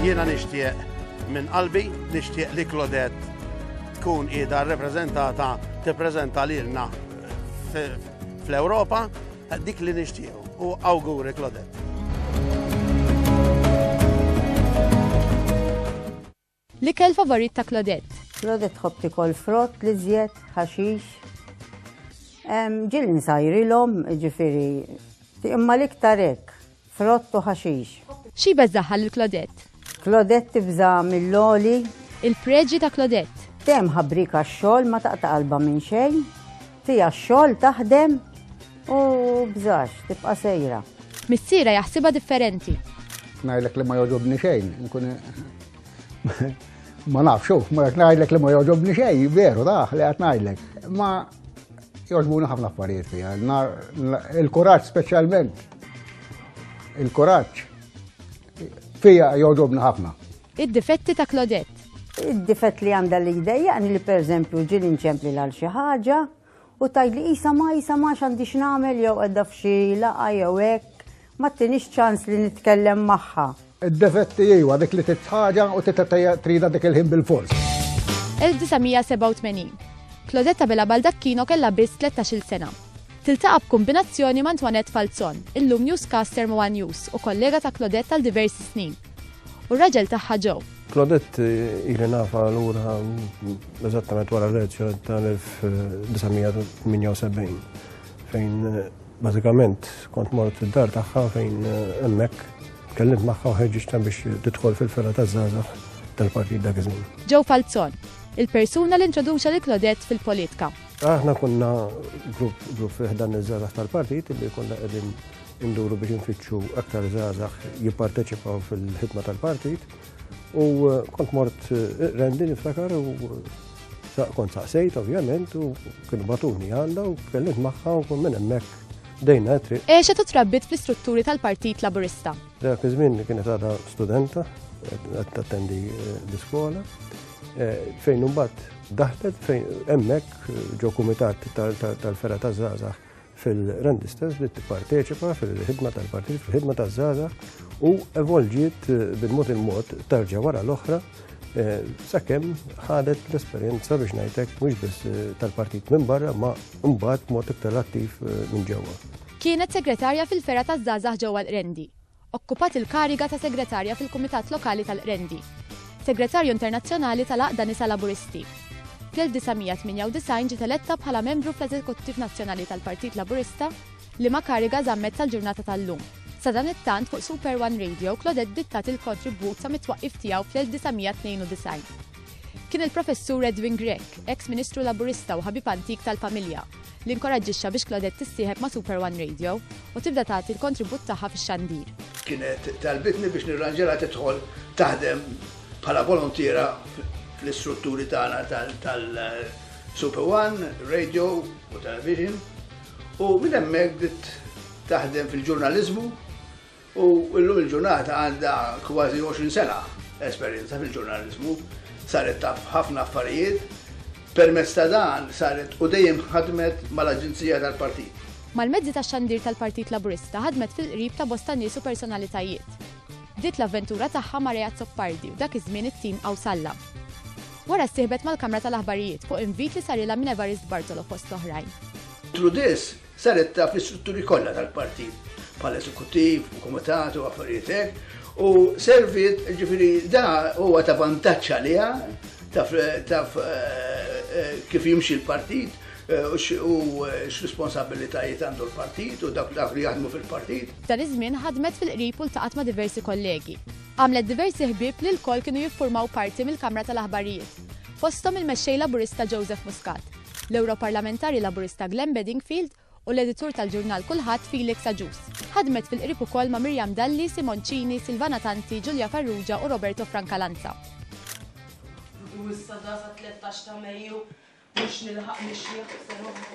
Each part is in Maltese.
Jiena nixtieq minn qalbi, nixtieq li Klodet tkun qiegħda rrepreżentata tippreżenta lilna fl-Ewropa dik li nixtieq u awguri Klodet. L-ikel favorit ta' Claudette. Claudette tħobb tikol frott l-iżjed, ħaxix. Ġilni sajrilhom, jiġifieri imma l-iktar hekk, frott u ħaxix. Xi jbeżżagħha lil Claudette? Claudette tibża' mill-għoli. Il-preġi ta' Claudette. Dejjem ħabriek għax-xogħol, ma taqta' qalbha minn xejn. Fiha x-xogħol, taħdem. U bżax, tibqa' sejra. Missierha jaħsibha differenti. Ngħidlek li ma jogħġobni xejn, nkun ma nafx, xuf, ma qed ngħidlek li ma jogħġobni xejn, veru daħ li qed ngħidlek. Ma jogħġbuni ħafna affarijiet fiha. Il-kuraġġ speċjalment. Il-kuraġġ fija jogħġobni ħafna. Id-difetti ta' Claudette. Id-difett li għandha li jdejjaqni li pereżempju ġieli nċempli l xi ħaġa, U tgħidli qisha ma qisha ma x'għandi x'nagħmel jew qiegħda f'xi laqgħa jew hekk, ma ttinix ċans li nitkellem magħha. Id-defetti iwa, dik li trid ħaġa u tridha dik il-ħin bilfors. 1987. Claudette Abela Baldacchino kellha biss tlettax-il sena. Tiltaqa' b'kumbinazzjoni ma' Antoinette Falzon, illum newscaster m'One News u kollega ta' Claudette għal diversi snin. u r-raġel tagħha Joe. Claudette eh, ili nafa l-ura mm, eżattament wara l-elezzjoni tal-1978 fejn eh, bażikament kont mort id-dar tagħha fejn eh, hemmhekk kellimt magħha u ħeġġiġta biex tidħol fil-ferra taż-żgħażagħ tal-Partit dak iż-żmien. Joe Falzon, il-persuna li introduċa lil Claudette fil-politika. Aħna kunna grupp grupp fiħdan iż-żgħażagħ tal-partit li konna qegħdin Induru biex infittxu aktar żgħażagħ jipparteċipaw fil-ħidma tal-partit u eh, kont mort eh, rendi niftakar u kont saqsejt ovvjament u kienu batuni għandha u kellimt magħha u minn hemmhekk dejna tri. E eh, xetu trabbit fl-istrutturi tal-Partit Laburista. Dak iż-żmien kienet għadha studenta qed tattendi eh, l-iskola eh, fejn imbagħad daħlet fejn hemmhekk ġo kumitat tal-fera ta' żgħażagħ fil-Randistas li tipparteċipa fil-ħidma tal-partit, fil-ħidma taż-żaza u evolġiet eh, bil-mod il-mod tarġa wara l-oħra eh, sakemm ħadet l-esperjenza biex ngħidlek mhux biss eh, tal-partit minn barra ma mbagħad mod iktar attiv minn ġewwa. Kienet segretarja fil-fera taż-żgħażagħ ġewwa l-Rendi. Okkupat il-kariga ta' Segretarja fil-Kumitat Lokali tal-Qrendi. Segretarju Internazzjonali tal-Għaqda Nisa Laburisti. Fl-1998 ġiet eletta bħala membru fl-Eżekuttiv Nazzjonali tal-Partit Laburista, liema kariga żammet sal-ġurnata tal-lum. Sadanittant fuq Super One Radio, Claudette dittat il-kontribwut sa mit-twaqqif tiegħu fl-1992. Kien il-Professur Edwin Grech, eks Ministru Laburista u ħabib antik tal-familja, li nkoraġġixxa biex Claudette tissieħeb ma' Super One Radio u tibda tagħti l-kontribut tagħha fix-xandir. Kienet talbitni biex nirranġilha tidħol taħdem bħala volontiera fl-istrutturi tagħna tal-Super One, Radio u Television u minn hemmhekk bdiet taħdem fil-ġurnaliżmu u llum il-ġurnata għandha kważi 20 sena esperjenza fil-ġurnaliżmu. Saret taf ħafna affarijiet, permezz ta' dan saret u dejjem ħadmet mal-aġenzija tal-Partit. Mal-mezzi tax-xandir tal-Partit Laburista ħadmet fil-qrib ta' bosta nies u personalitajiet. Bdiet l-avventura tagħha ma' Ray Azzopardi u dak iż-żmien it-tim Awsalla. Wara ssieħbet mal-Kamra tal-Aħbarijiet fuq invit li sarilha minn Evarist Bartolo fost l-oħrajn. Trudis Saret taf l-istrutturi kollha tal-partit bħal eżekuttiv u kumitat u affarijiet hekk u serviet ġifieri da huwa ta' vantaġġ għaliha taf eh, kif jimxi l-partit eh, u eh, x'responsabilitajiet għandu l-partit u dak dak li jaħdmu fil-partit. F'dan iż-żmien ħadmet fil-qrib u ltaqgħet ma' diversi kollegi. Għamlet diversi ħbieb li lkoll kienu jiffurmaw parti mill-Kamra tal-Aħbarijiet, fosthom il-Mexxej Laburista Joseph Muscat. l-Ewroparlamentari Laburista Glenn Bedingfield u l-editur tal-ġurnal Kulħadd Felix Agius. Ħadmet fil-qrib ukoll ma' Miriam Dalli, Simon Cini, Silvana Tanti, Julia Farrugia u Roberto Francalanza. U issa da sa tlettax ta' Mejju mhux nilħaq nixjieħ b'sena oħra.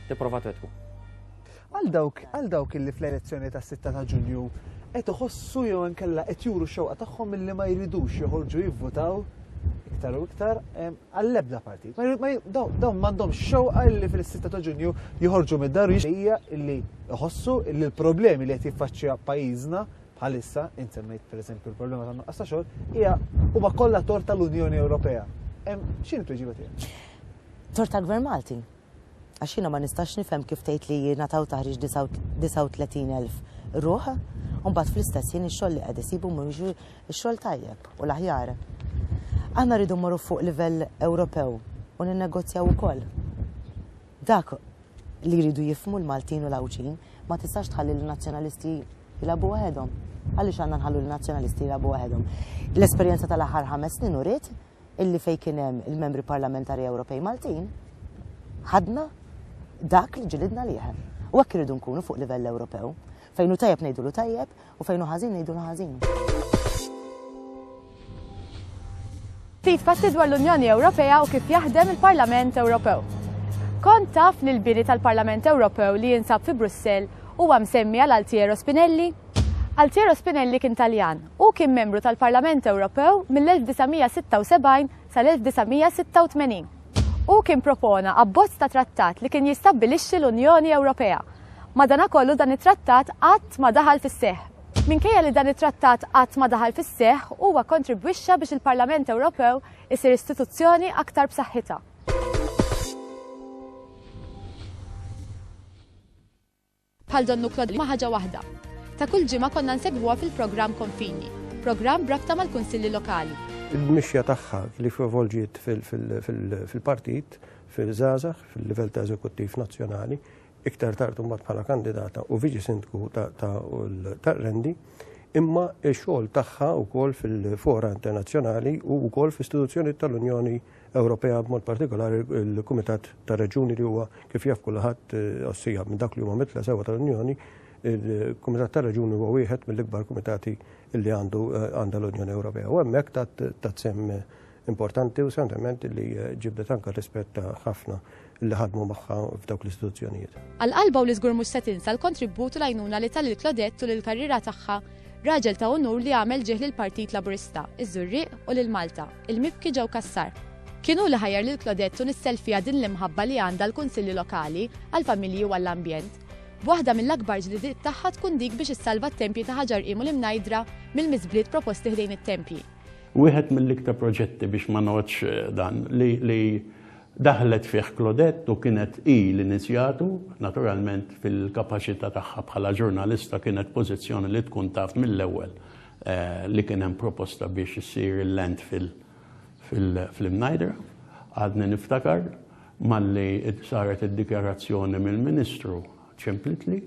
tipprova twettqu. Għal dawk għal dawk illi fl-elezzjoni tas-6 ta' Ġunju qed iħossu jew inkella qed juru xewqa tagħhom illi ma jridux joħorġu jivvutaw iktar u iktar għall-ebda partit. Dawn m'għandhom xewqa li fil-6 ta' ġunju joħorġu mid-dar hija li jħossu li l-problemi li qed jiffaċċja pajjiżna bħalissa, insemmejt per eżempju l-problema ta' nuqqas ta' xogħol, hija huma kollha tor tal-Unjoni Ewropea. X'in tweġiba tiegħek? Tor tal-Gvern Malti. Għax jiena ma nistax nifhem kif tgħid li jingħataw taħriġ 39,000 ruħ u mbagħad fl-istess ħin ix-xogħol li qed isibu mhuwiex ix-xogħol tajjeb u l-aħjar. Aħna rridu mmorru fuq livell Ewropew u ninnegozjaw ukoll. Dak li jridu jifhmu l-Maltin u l-Għawdxin ma tistax tħalli lin-nazzjonalisti jilagħbu waħedhom. Għaliex għandna nħallu lin-nazzjonalisti jilagħbu waħedhom? L-esperjenza tal-aħħar ħames snin uriet illi fejn kien hemm il-Membri Parlamentari Ewropej Maltin, ħadna dak li ġilidna liħ. U hekk irridu nkunu fuq livell Ewropew, fejn hu tajjeb ngħidulu tajjeb u fejn hu ħażin ngħidulu ħażin. Ftit fatti dwar l-Unjoni Ewropea u kif jaħdem il-Parlament Ewropew. Kont taf li l-bini tal-Parlament Ewropew li jinsab fi Brussell huwa msemmi għal Altiero Spinelli? Altiero Spinelli kien Taljan. Hu kien membru tal-Parlament Ewropew mill-1976 sal-1986. Hu kien propona abbozz ta' trattat li kien jistabbilixxi l-Unjoni Ewropea. Madanakollu dan it-trattat qatt ma daħal fis-seħħ. Minkejja li dan it-trattat qatt ma daħal fis-seħħ, huwa kkontribwixxa biex il-Parlament Ewropew isir istituzzjoni aktar b'saħħitha. Bħal Don Nuklod ma' ħaġa waħda. Ta' kull ġimgħa konna nsegwuha fil-programm Konfini, programm b'rabta mal-Kunsilli Lokali. Il-mixja tagħha li f'evolġiet fil-partit, fiż-żgħażagħ, fil-livell ta' eżekuttiv nazzjonali, iktar tard imbagħad bħala kandidata u viċi sindku ta' Rendi, imma x-xogħol tagħha wkoll fil-fora internazzjonali u wkoll f'istituzzjonijiet tal-Unjoni Ewropea b'mod partikolari l-Kumitat tar-Reġjuni li huwa kif jaf kulħadd għossija minn dawk li huma mitla sewwa tal-Unjoni, il-Kumitat tar-Reġjuni huwa wieħed mill-ikbar kumitati li għandu għandha l-Unjoni Ewropea. U hemmhekk tat sehem importanti u semtement li ġibdet anke r-rispett ta' ħafna li ħadmu magħha f'dawk l-istituzzjonijiet. Għal qalbha u li żgur mhux se tinsa l-kontribut u l-għajnuna li ta lil Claudette tul il-karriera tagħha, raġel ta' unur li għamel ġieħ lill-Partit Laburista, iż-Żurrieq u lil Malta, il-mibki ġew Cassar. Kien hu li ħajjar lil Claudette u nissel fiha din l-imħabba li għandha għall-Kunsilli Lokali, għall-familji u għall-ambjent. B'waħda mill-akbar ġlidiet tagħha tkun dik biex issalva t-tempji ta' Ħaġar Qim u l-Imnajdra mill-miżbliet proposti ħdejn it-tempji. Wieħed mill-iktar proġetti biex ma ngħoddx dan li Daħlet fih Claudette u kienet hi li nizjatu, naturalment fil-kapaċità tagħha bħala ġurnalista kienet pożizzjoni li tkun taf mill-ewwel li kien hemm proposta biex issir il-landfill fl-Imnajdra. Għadni niftakar malli saret id-dikjarazzjoni mill-Ministru ċemplitli,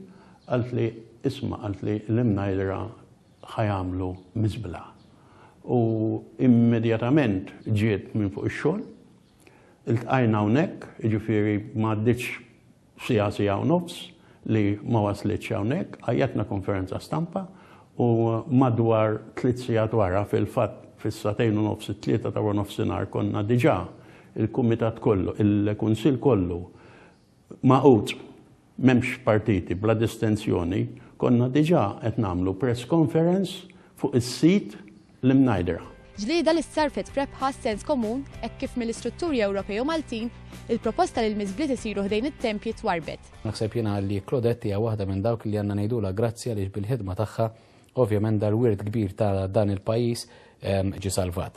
qaltli, isma' qaltli l-Imnajdra ħa jagħmlu miżbla. U immedjatament ġiet minn fuq ix-xogħol, Iltqajna hawnhekk, jiġifieri ma għaddietx siegħa, siegħa u nofs li ma waslitx hawnhekk, għajjatna konferenza stampa u madwar tliet siegħat wara, fil-fatt fis-sagħtejn u nofs, it-tlieta ta' waronofsinhar konna diġà il-kumitat kollu, il-kunsill kollu magħqud, m'hemmx partiti, bla distinzjoni, konna diġà qed nagħmlu press conference fuq is-sit l-imnajdra. Ġlieda li ssarrfet f'rebħa għas-sens komun hekk kif mill-istrutturi Ewropej u Maltin, il-proposta li l-miżbliet isiru ħdejn it-tempji twarbet. Naħseb jiena li Claudette hija waħda minn dawk li għandna ngħidulha grazzi għaliex bil-ħidma tagħha ovvjament dal-wirt kbir ta' dan il-pajjiż ġie salvat.